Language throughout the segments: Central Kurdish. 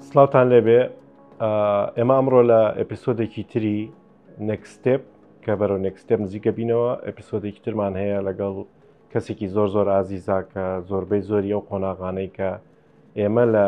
سلااوان لێبێ ئێمە ئەمڕۆ لە ئەپیسۆدێکی تری نکستێپ کە بەرەو نکستێپ نزیکە بینەوە ئەپیسۆدێکی ترمان هەیە لەگەڵ کەسێکی زۆر زۆر ئازیزا کە زۆربەی زۆری ئەو قۆناغانەی کە ئێمە لە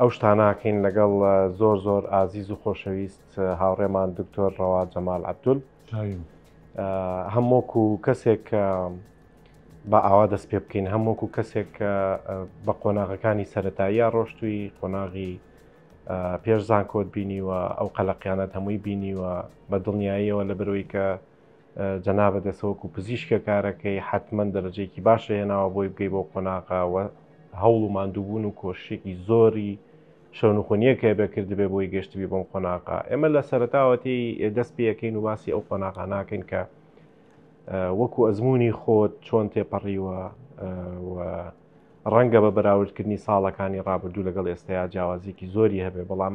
ئەو شتانە ئەکەین لەگەڵ زۆر زۆر ئازیز و خۆشەویست هاوڕێمان دکتۆر ڕەوا جەمال عەبدول هەمووک و کەسێک بە ئاوا دەست پێ بکەین هەمووک و کەسێک بە قۆناغەکانی سەتاییە ڕۆشتووی قۆناغی پێش زانکۆت بینیوە ئەو قەلەقیانەت هەمووی بینیوە بە دڵنیاییەوە لە برۆی کە جەنابت ئێستا وەکو پزیشکە کارەکەی حتمما دەرەجەیەکی باشە هێناوە بۆی بگەی بۆ قۆناغا و هەوڵ و ماندووبوون و کۆششێکی زۆری شەونخۆنیەک هەیە بێ کردبێ بۆی گەشتبی بۆم قۆناغا ئێمە لە سەرتاوەتی دەست پێەکەین و باسی ئەو قۆناغا ناکەین کە وەکو ئەزمموی خۆت چۆن تێپەڕیوە ڕەنگە بە بەراوردکردنی ساڵەکانی ڕابردوو لەگەڵ ئێستایا جیاوازیکی زۆری هەبێ بەڵام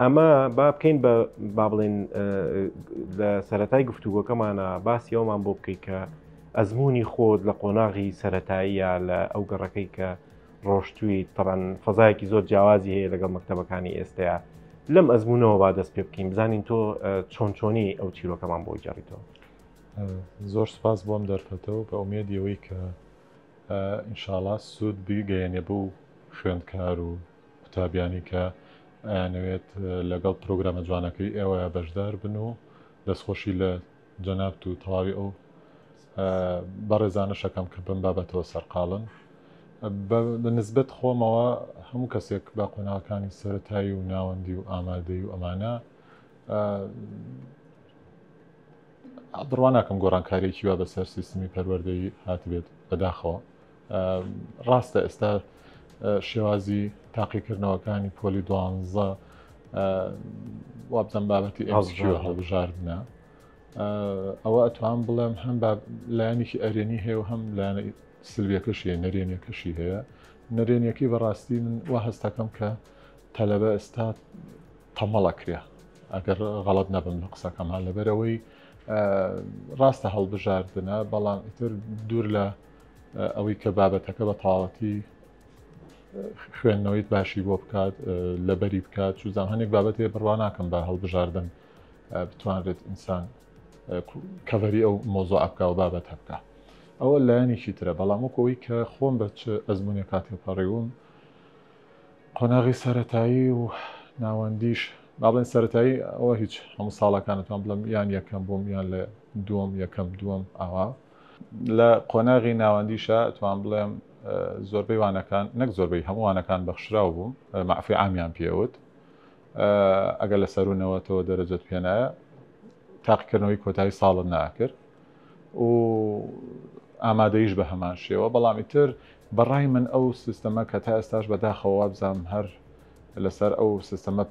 ئەمە با بکەین بە با بڵێن لە سەتای گفتوگۆکەمانە باسی ئەومان بۆ بکەیت کە ئەزمموی خۆت لە قۆناغی سەتاییە لە ئەو گەڕەکەی کە ڕۆشتووی تەبان فەزایەکی زۆر جیاوازی هەیە لەگەڵ مەکتتەبەکانی ئێستەیە لەم ئەزمونەوە با دەست پێ بکەین بزانین تۆ چۆن چۆنی ئەو چیرۆکەمان بۆ جاڕیتەوە زۆر سپاس بۆم دەرفەتەوە بە ئومێدیەوەی کە ئینشاالله سوود بگەیەنێ بوو خوێندکار و قوتابیانی کە ئەیانەوێت لەگەڵ پرۆگرامە جوانەکەی ئێوە بەشدار بن و دەستخۆشی لە جەنابت و تەواوی ئەو بەڕێزانەشەکەم کە بم بابەتەوە سەرقاڵن بە نسبەت خۆمەوە هەموو کەسێک بە قۆناغەکانی سەتایی و ناوەندی و ئامادەی و ئەمانە بڕواناکەم گۆڕانکاریێکی وا بەسەر سیستمی پەروەردەی هاتبێت بەداخەوە ڕاستە ئێستا شێوازی تاقیکردنەوەکانی پۆلی دوانزە وابزان بابەتی ئەزکیۆ هەڵبژاردنە ئەوە ئەتوان بڵێم هەم لایەنێکی ئەرێنی هەیە و هەم لایەنە سلویەکەشی نەرێنیەکەشی هەیە نەرێنیەکەی بەڕاستی من و هەستەکەم کە تەلەبە ئێستا تەمەڵەکرێ ئەگەر غەڵت نەبم لە قسەکەمان لەبەرەوەی ڕاستە هەڵبژاردنە بەڵام ئیتر دوور لە ئەوەی کە بابەتەکە بە تەواوەتی خوێندنەوەیت باشی بۆ بکات لەبەری بکات چوزان هەنێک بابەتێ بڕوا ناکەم بە هەڵبژاردن بتوانرێت ئینسان کەڤەری ئەو مۆزۆ ئەبکە و بابەت هەبکە ئەوە لایەنێکی ترە بەڵام وەکەوەی کە خۆم بە چ ئەزمونێک کاتێ پەڕیوم قۆناغی سەتایی و ناوەندیش باڵێن سەتایی ئەوە هیچ هەموو ساڵەکانتان بڵم یان یەکەم بووم یان لە دووەم یەکەم دووەم ئاوا لە قۆناغی ناوەندیشا ئەتوان بڵێم زۆربەی وانەکان نەک زۆربەی هەموو وانەکان بەخشراو بووم مەعفی عامیان پێوت ئەگەر لە سەر و نەوەتەوە دەرەجەت پێنایە تاقیکردنەوەی کۆتایی ساڵت ناکرد و ئامادەیش بە هەمان شێوە بەڵام ئیتر بەڕای من ئەو سیستەمە کە تا ئێستاش بەداخەوە وابزانم هەر لەسەر ئەو سیستەمە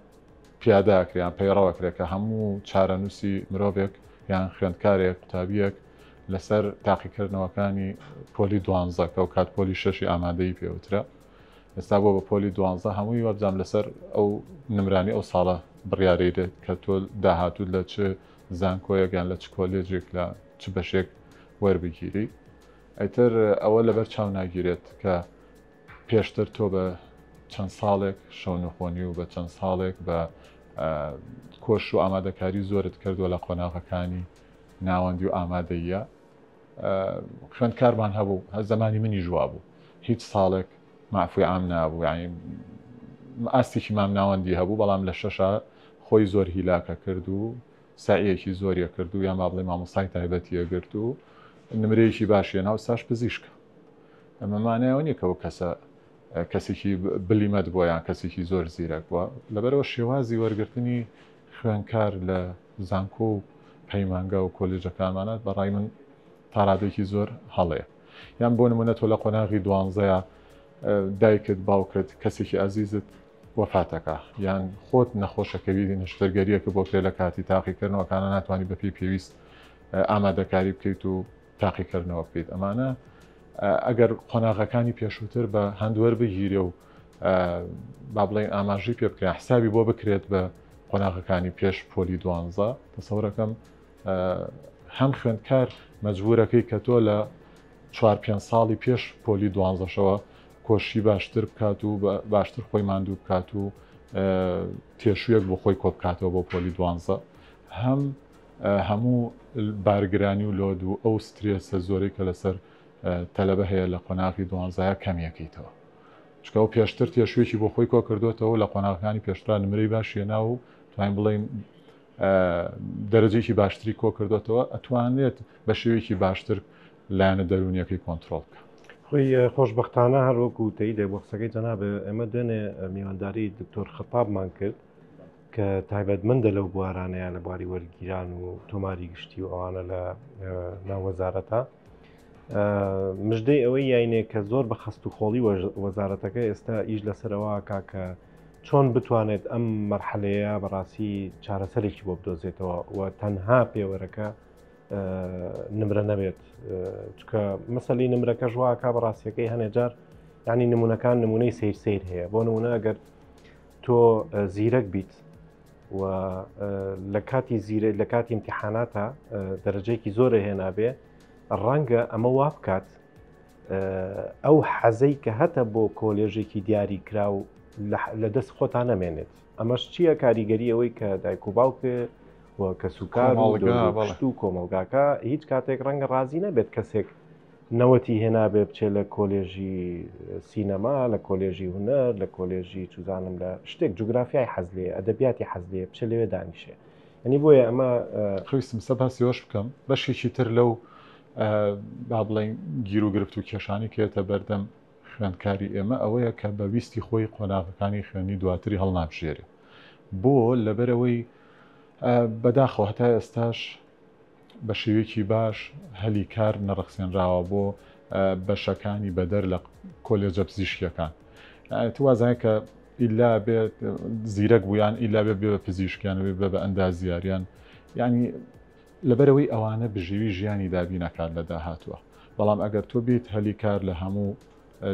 پیاداکریان پەیڕەوەکرێت کە هەموو چارەنووسی مرۆڤێک یان خوێندکارێک قوتابیەک لەسەر تاقیکردنەوەکانی پۆلی دوانزە کە و کات پۆلی شەشی ئامادەی پێوترە ئێستا بۆ بە پۆلی دوانزە هەمووی وەبزانام لەسەر ئەو نمرانی ئەو ساڵە بڕیارەی دێت کە تۆ داهاتوو لە چ زانکۆیەکان لە چ کۆلێجێک لە چ بەشێک وەربگیری ئەتر ئەوە لەبەر چاو ناگیرێت کە پێشتر تۆ بە چەند ساڵێک شەونخۆنی و بە چەند ساڵێک بە کۆش و ئامادەکاری زۆرت کردووە لە قۆناغەکانی ناوەندی و ئامادەییە خوێندکارمان هەبوو هە زمانی منی ژوا بوو هیچ ساڵێک مافوی عام نابوو ئاستێکی مام ناوەندی هەبوو بەڵام لە شەشا خۆی زۆر هیلاکە کرد و سعیەکی زۆریە کرد و یان با بڵێ مامۆسای تایبەتیە گرت و نمرەیەکی باشیە ناو ساش پزیشکە ئەمەمانایەوە نیە کەەوە کەسە کەسێکی بلیمەت بۆ یان کەسێکی زۆر زیرەک بووە لەبەرەوە شێوازی وەرگرتنی خوێنکار لە زانکۆ و پەیمانگا و کۆلیژەکانمانە بە ڕای من تا ڕادەیەکی زۆر هەڵەیە یان بۆ نمونە تۆ لە قۆناغی دوانزەیە دایکت باوکت کەسێکی ئازیزت وەفاتەکە یان خۆت نەخۆشەکەوی نشتەرگەریەکە بۆ کرێ لە کاتی تاقیکردنەوەکانە ناتوانانی بەپی پێویست ئامادەکاری بکەیت و تاقیکردنەوە بکەیت ئەمانە ئەگەر قۆناغەکانی پێشووتر بە هەندوەر بگیرێ و با بڵێن ئاماژی پێ بکرێن حسابی بۆ بکرێت بە قۆناغەکانی پێش پۆلی دوانزە دەسەورەکەم هەم خوێندکار مەجبورەکەی کە تۆ لە چوار پێ ساڵی پێش پۆلی دوانزەشەوە کۆشی باشتر بکات و باشتر خۆی ماندوو بکات و تێشوێک بۆ خۆی کۆبکاتەوە بۆ پۆلی دوانزە هەم هەموو بارگرانی و لۆد و ئەو سترێسە زۆرەی کە لەسەر تەلەبە هەیە لە قۆناغی دوانزایە کەمیەکەیتەوە چکە و پێشتر تێشوێکی بۆ خۆی کۆ کردوێتەوە لە قۆناغەکانی پێشترا نمرەی باشیە ناو و توانین بڵین دەرەجێکی باشتری کۆ کردوێتەوە ئەتوانێت بە شێوێکی باشتر لایەنە دەرونیەکەی کۆنتترۆل بکە خۆی خۆشببختانە هەروەکو تەی دەبخسەکەی جەنابێ ئەمە دوێنێ میوانداری دکتۆر خەتابمان کرد کە تایبەتمەندە لەو بوارانەیە لە بواری وەرگیران و تۆماری گشتی و ئەوانە لە ناوەزارەتە مژدەی ئەوەی یاینێک کە زۆر بە خەست و خۆڵی وەزارەتەکە ئێستا ئیش لەسەرەوە کاکە چۆن بتوانێت ئەم مەرحەلەیە بەڕاستی چارەسەرێکی بۆ بدۆزێتەوە و تەنها پێوەرەکە نمرە نەبێت چکە مەسلی نمرەکە ژواکە بەڕاستیەکەی هەنێجار ینی نمونونەکان نمونەی سیر سیر هەیە بۆ نمونە ئەگەر تۆ زیرەک بیت و لە کاتی زیرە لە کاتی امتحاناتە دەرەجەیەکی زۆرە هێنابێ ڕەنگە ئەمە وا بکات ئەو حەزەی کە هەتە بۆ کۆلێژێکی دیاری کرا و لە دەست خۆتان نەمێنێت ئەمەش چییە کاریگەری ئەوەی کە دایک و باوکێ کە سوکار و کۆمەڵگاکە هیچ کاتێک ڕەنگە ڕازی نەبێت کەسێک نەوەتی هێنابێ بچێ لە کۆلێژی سینەما لە کۆلێژی هونەر لە کۆلێژی چوزانم لە شتێک جوگرافیای حەز لێ ئەدەبیاتی حەز لێ بچێ لەوێ دانیشێ یعنی بۆیە ئەمە خەویستم سە باسی ئەوەش بکەم بەشێکی تر لەو با بڵێن گیر و گرفت و کێشانی کێتە بەردەم خوێندکاری ئێمە ئەوەیە کە بە ویستی خۆی قۆناغەکانی خوێندنی دواتری هەڵنابژێرێ بۆ لەبەرەوەی بەداخەوە هەتا ئێستاش بە شێوەیەکی باش هەلی کار نەڕەخسێنراوە بۆ بەشەکانی بەدەر لە کۆلێجە پزیشکیەکان ئەت وازانە کە ئیلا بێت زیرەک بوویان ئیلا بێ بێ پزیشکیان بێ بە ئەندازیاریان ینی لەبەرەوەی ئەوانە بژێوی ژیانی دابینەکان لە داهاتوە بەڵام ئەگەر تۆ بیت هەلی کار لە هەموو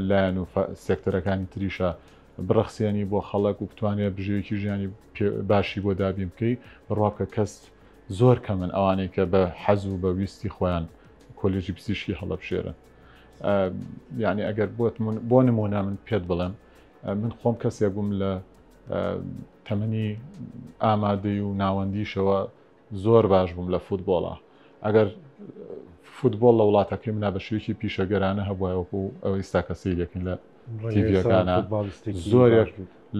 لایەن و سێکتەرەکانی تریشە بڕەخسیێنی بۆ خەڵک و بتوانێت بژێوێکی ژیانی باشی بۆ دابین بکەی بڕوا بکە کەست زۆر کەمن ئەوانەی کە بە حەز و بە ویستی خۆیان کۆلێژی پزیشکی هەڵەبژێرن یعنی ئەگەر بۆ نمونە من پێت بڵێم من خۆم کەسێک بووم لە تەمەنی ئامادەی و ناوەندیشەوە زۆر باش بووم لە فوتبۆڵە ئەگەر فوتبۆڵ لە وڵاتەکەی منا بە شوێکی پیشەگەرانە هەبووەوەکو ئەوە ئیستا کەسی دەکەین لە تیڤەکانە زۆرێک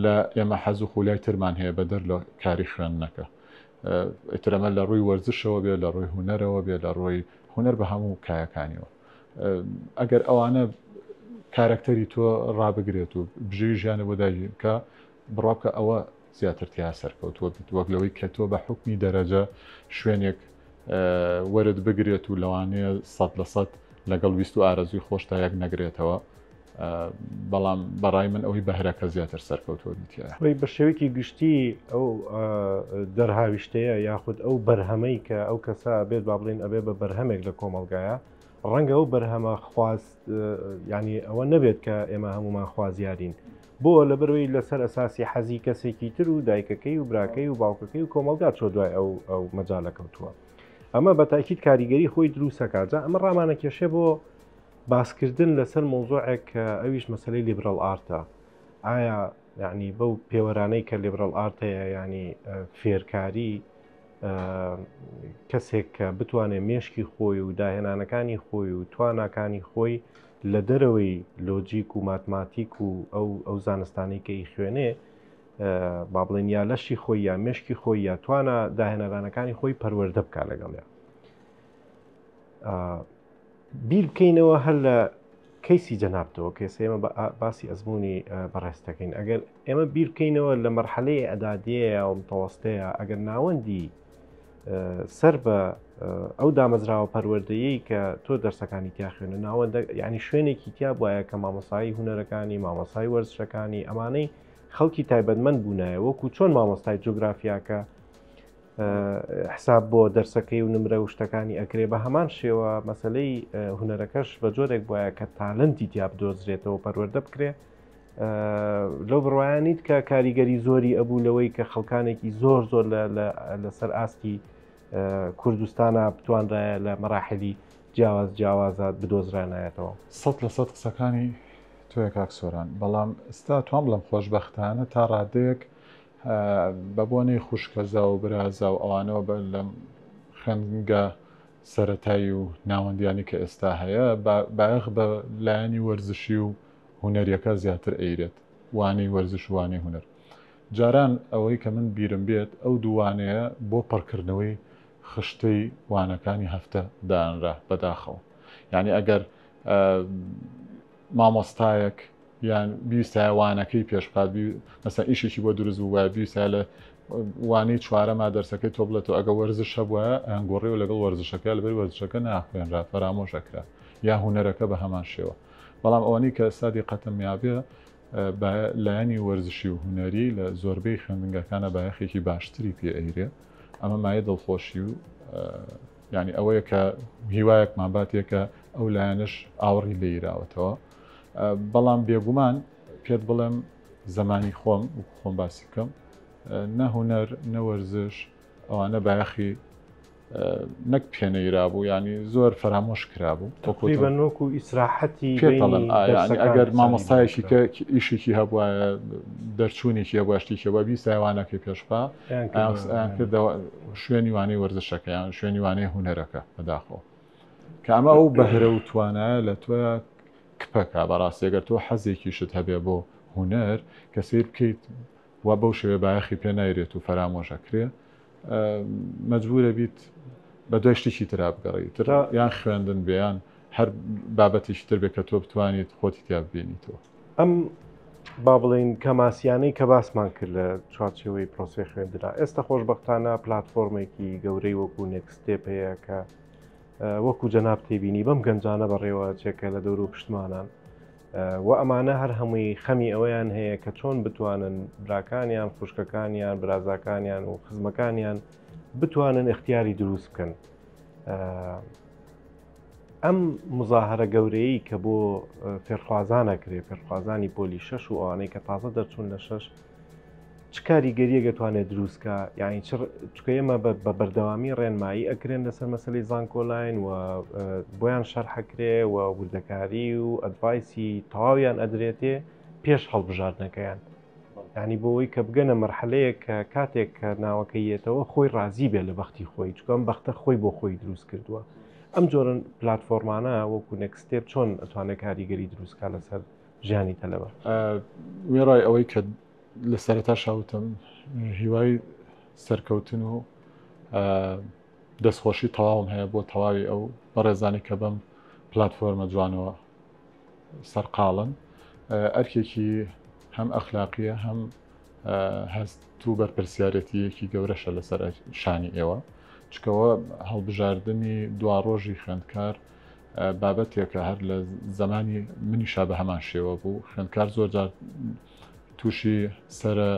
لە ئێمە حەز و خولای ترمان هەیە بە دەر لە کاری خوێندنەکە ئیتر ئەمە لە ڕووی وەرزشەوە بێ لە ڕووی هونەرەوە بێ لە ڕۆی هونەر بە هەموو کایەکانیەوە ئەگەر ئەوانە کارەکتەری تۆ ڕابگرێت و بژێوی ژیانە بۆ داگیرکە بڕاکە ئەوە زیاتر تیا سەرکەوتووە بیت وەک لەوەی کە تۆ بە حکمی دەرەجە شوێنێک وەرت بگرێت و لەوانەیە سەد لە سەد لەگەڵ ویست و ئارەزوی خۆشتا یەک نەگرێتەوە بەڵام بەڕای من ئەوەی بەهرەکە زیاتر سەرکەوتوە دیتیایە وی بە شێوەیەکی گشتی ئەو دەرهاویشتەیە یاخود ئەو بەرهەمەی کە ئەو کەسە بێت با بڵین ئەبێ بە بەرهەمێک لە کۆمەلگایە ڕەنگە ئەو بەرهەمە خواست ینی ئەوە نەبێت کە ئێمە هەمومان خوازیارین بۆ؟ لەبەرئەوەی لەسەر ئەساسی حەزی کەسێکی تر و دایکەکەی و براکەی و باوکەکەی و کۆمەڵگا چۆ دوای ئەو ئەو مەجالە کەوتووە ئەمە بە تاکیت کاریگەری خۆی دروستەکە جا ئەمە ڕامانە کێشێ بۆ باسکردن لەسەر مۆزۆعێک کە ئەویش مەسلەی لیبرال ئارتە ئایا یعنی بەو پێوەرانەی کە لیبرال ئارت هەیە ینی فێرکاری کەسێک کە بتوانێت مێشکی خۆی و داهێنانەکانی خۆی و تواناکانی خۆی لە دەرەوەی لۆجیک و ماتماتیک و ئەو ئەو زانستانەی کە ئیخوێنێ با بڵێن یا لەشی خۆی یا مشکی خۆی یا توانە داهێنەرانەکانی خۆی پەروەەردە بکە لەگەڵیان بیر بکەینەوە هەر لە کەیسی جەنابتەوە کەس ئێمە باسی ئەزمموی بەڕێستەکەین ئەگەر ئێمە بیرکەینەوە لە مەرحەلەی ئەدادەیە و متەوەستەیە ئەگەر ناوەندی سەر بە ئەو دامەزراوە پەروەردەیەی کە تۆ دەرسەکانی تیا خوێنە ناوەندە ینی شوێنێکی تیا بواە کە مامۆسایی هوەرەکانی مامۆسای وەرزشەکانی ئەمانەی خەڵکی تایبەتمەند بوونایە وەکو چۆن مامۆستای جوگرافیاکە حساب بۆ دەرسەکەی و نمرە و شتەکانی ئەکرێ بە هەمان شێوە مەسلەی هوەرەکەش بە جۆرێک بواە کە تالنتی تیا بدۆزرێتەوە پەروەەردە بکرێ لەو بڕواە نیت کە کاریگەری زۆری ئەبوو لەوەی کە خەڵکانێکی زۆر زۆر لەسەر ئاستی کوردستانە بتواندایە لە مەراحلی جیاواز جیاوازە بدۆزرانایەتەوە سە لە سە قسەکانی تۆە کاک سۆران بەڵام ئستا توام بڵم خۆشببختانە تا ڕادەیەک بە بۆنەی خوشکەزا و برازا و ئەوانەوە بە لەم خوێنگە سەتایی و ناوەندیانی کە ئێستا هەیە باخ بە لایەنی وەرزشی و هونەریەکە زیاتر ئەیرێت وانەی وەرزش و وانەی هونەر جاران ئەوەی کە من بیرم بێت ئەو دوو وانەیە بۆ پڕکردنەوەی خشتەی وانەکانی هەفتە دانرا بەداخەوە یانی ئەگەر مامۆستایەک یان بیویستایە وانەکەی پێشبخات مەسە ئیشێکی بۆ دروست بوو وایە بیویستە لە وانەی چوارەما دەرسەکەی تۆ بڵێت و ئەگە وەرزش هەبووە ئەنگۆڕی و لەگەڵ وەرزشەکە لەبەر وەرزشەکە ناخوێنرا فەرامۆشەکرا یا هوەرەکە بە هەمان شێوە بەڵام ئەوانەی کە سادی قەتەمیابێ بە لایەنی وەرزشی و هونەری لە زۆربەی خوێندنگاکانە بایەخێکی باشتری پێ ئەیرێ ئەمە مایە دڵخۆشی و ینی ئەوەیە کە هیوایەکمان باتێکە ئەو لایەنش ئاوڕی لێراوەتەوە بەڵام بێگومان پێت بڵێم زمانی خۆم خۆم باسی بکەم نە هوەر نەوەرزش ئەوانە بایەخی نەک پێنەیرابوو ینی زۆر فەرامۆش کرابوو تقریبا نۆک و ئیسراحەتی ئەگەر مامۆستایەکی کە ئیشێکی هەبووە دەرچوونێکی هەبوو شتێکی بە بیسایوانەکەی پێشخوا کردەوە شوێنی وانەی وەرزشەکەیان شوێنی وانەی هوەرەکە بەداخۆ کامە ئەو بەهرە و توانایە لە تۆ کپەکە بەڕاستێگەر تۆ حەزێکیشت هەبێ بۆ هوەر کە سیر بکەیت وا بەو شێوەیە بایەخی پێ نایرێت و فەرامۆش ئەکرێ مەجبور ئەبیت بە دوای شتێکی ترا بگەڕێی تر یان خوێندن بێ یان هەر بابەتێکی تر بێ کە تۆ بتوانیت خۆتی تیا ببینیتەوە ئەم با بڵێین کەماسیانەی کە باسمان کرد لە چوارچەوەی پرۆسی خوێندرا ئێستا خۆشببختانە پلتفۆرمێکی گەورەی وەکو نێکستێپ هەیە کە وەکو جەناب تێبینی بەم گەنجانە بەڕێوە چێکە لە دەور و پشتمانان وە ئەمانە هەر هەمووی خەمی ئەوەیان هەیە کە چۆن بتوانن براکانیان خوشکەکانیان برازاکانیان و خزمەکانیان بتوانن اختیاری دروست بکەن ئەم مزاهرە گەورەی کە بۆ فێرخوازانەکرێ فێرخوازانی پۆلی شەش و ئەوانەی کە تازە دەرچوون لە شەش چ کاریگەریەک ئەتوانێت دروستکە یعنی چکە ئێمە بە بەردەوامی ڕێنمایی ئەکرێن لەسەر مەسلی زانکۆلاین و بۆیان شەرحەکرێ و وردەکاری و ئەدڤایسی تەواویان ئەدرێتێ پێش هەڵبژاردنەکەیان ینی بۆەوەی کە بگەنە مەرحەلەیە کە کاتێک کە ناوەکە یەتەوە خۆی ڕازی بێ لە بەختی خۆی چکەم بەختە خۆی بۆ خۆی دروست کردووە ئەم جۆرن پلتفۆرمانە وەکو نەکسستێت چۆن ئەتوانێت کاریگەری دروستکە لەسەر ژیانی تەلەبە. وێڕای ئەوەی کە لە سەرەتا شاوتم هیوای سەرکەوتن و دەستخۆشی تەواوم هەیە بۆ تەواوی ئەو بەڕێزانی کە بەم پلتفۆرمە جوانەوە سەرقاڵن ئەرکێکی هەم ئەخلاقیە هەم هەست و بەرپرسیارەتیەکی گەورەشە لەسەر شانی ئێوە چکەوە هەڵبژاردننی دواڕۆژی خوێندکار بابەتێکە هەر لە زەمانی منیشا بە هەمان شێوە بوو خوێندکار زۆر جار تووشی سرە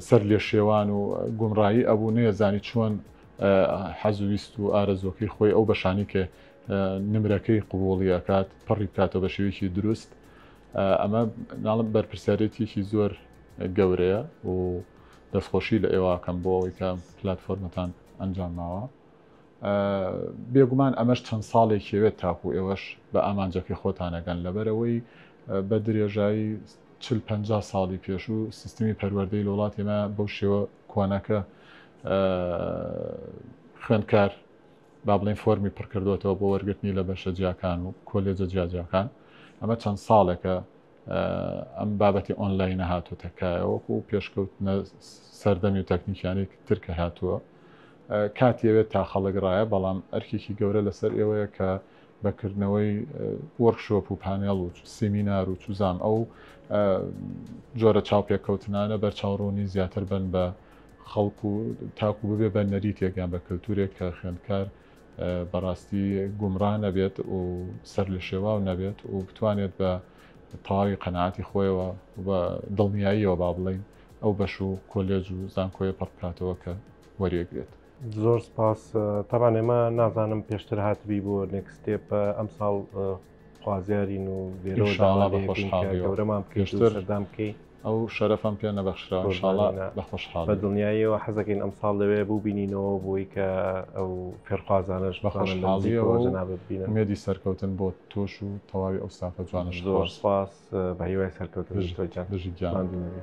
سەر لێ شێوان و گومڕایی ئەبوو نێزانی چۆن حەزویست و ئارەزۆکەی خۆی ئەو بەشانی کە نمرەکەی قوبوڵی ئەکات پڕی بکاتەوە بە شێوێکی دروست ئەمە ناڵم بەرپرسیارەتێکی زۆر گەورەیە و دەستخۆشی لە ئێواکەم بۆ ئەوەی کە پلتفۆرمەتان ئەنجام ماوە بێگومان ئەمەش چەند ساڵێکی ئەوێت تاکوو ئێوەش بە ئامانجەکەی خۆتان ئەگەن، لەبەرئەوەی بە درێژایی چل پەنجا ساڵی پێشوو سیستمی پەروەردەی لە وڵاتی ئێمە بەو شێوە کۆنەکە خوێندکار با بڵێین فۆرمی پڕکردوێتەوە بۆ وەرگرتنی لە بەشە جیاکان و کۆلێجە جیاجیاکان ئەمە چەند ساڵێکە ئەم بابەتی ئۆنلاینە هاتوتە کایەوەکو پێشکەوتنە سەردەمی و تەکنیکیانی ترکە هاتووە کات یەوێت تا خەڵک ڕایە بەڵام ئەرکێکی گەورە لەسەر ئێوەیە کە بەکردنەوەی وەرکشۆپ و پانێڵ و سیمینار و چوزام ئەو جۆرە چاوپێککەوتنانە بەرچاوڕوونی زیاتر بن بە خەڵکو تاکو ببێ بە نەریتێکیان بە کللتورێک کە خوێندکار بەڕاستی گومڕا نەبێت و سەر لە شێواو نەبێت و بتوانێت بە تەواوی قەنەعاتی خۆیەوە بە دڵنیاییەوە با بڵین ئەو بەش و کۆلێج و زانکۆیە پڕ بکاتەوە کە وەریەگرێت. زۆر سپاس تەبان ئێمە نازانم پێشتر هاتبی بۆ نێکستێپ ئەم ساڵ خوازیارین و لێرەوە داوا لێ بکەین کە گەورەمان بکەی سەردان بکەی. ئەو شەرەفەم پێ نەبەخشراوە انشاءاللە بە خۆشحاڵی. بە دڵنیاییەوە حەزەکەین ئەمساڵ لەوێ بووبینینەوە بۆی کە ئەو فێرخوازانەش بە خۆشحاڵیەوە جەنابت ببینن. ئومێدی سەرکەوتن بۆ تۆش و تەواوی ئەو ستافە جوانەش. زۆر سوپاس بە هیوای سەرکەوتن دکتۆر گیان. بژی گیان. ماندوو نەبی.